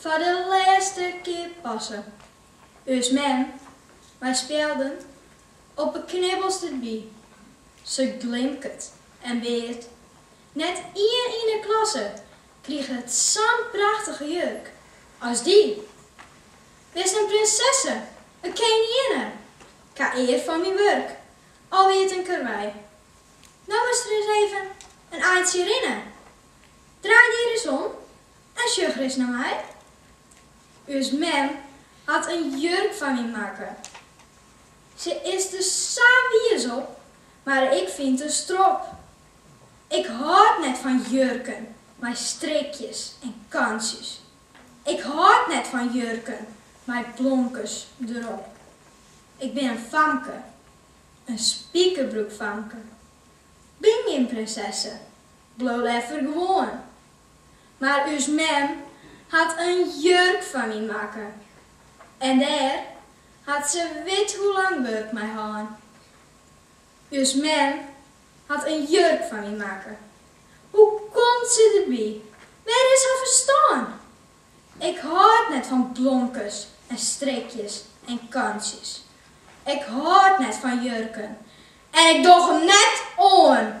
Foar de lêste kear passe. Us mem, mei spjelden op 'e knibbels derby. Se glimket en beart. Net ien yn 'e klasse kriget sa'n prachtige jurk as dy. Bist in prinsesse, in keninginne, 'k ha ear fan myn wurk, al wie it in karwei. No earst ris even in eintsje rinne. Draai dy ris om En sjoch ris nei my. Us mem hat in jurk foar my makke. Se is der sa wiis op, mar ik fyn 't in strop. Ik hâld net fan jurken mei strikjes en kantsjes. Ik hâld net fan jurken mei blomkes derop. Ik bin in famke, in spikerbroekfamke. Bin gjin prinsesse, bliuw leaver gewoan Mar ús mem hat in jurk foar my makke en dêr hat se wit hoe lang wurk mei hân. Us mem hat in jurk foar my makke. Hoe komt se derby? Wêr is har ferstân? Ik hâld net fan blomkes en strikjes en kantsjes. Ik hâld net fan jurken en ik doch him net oan.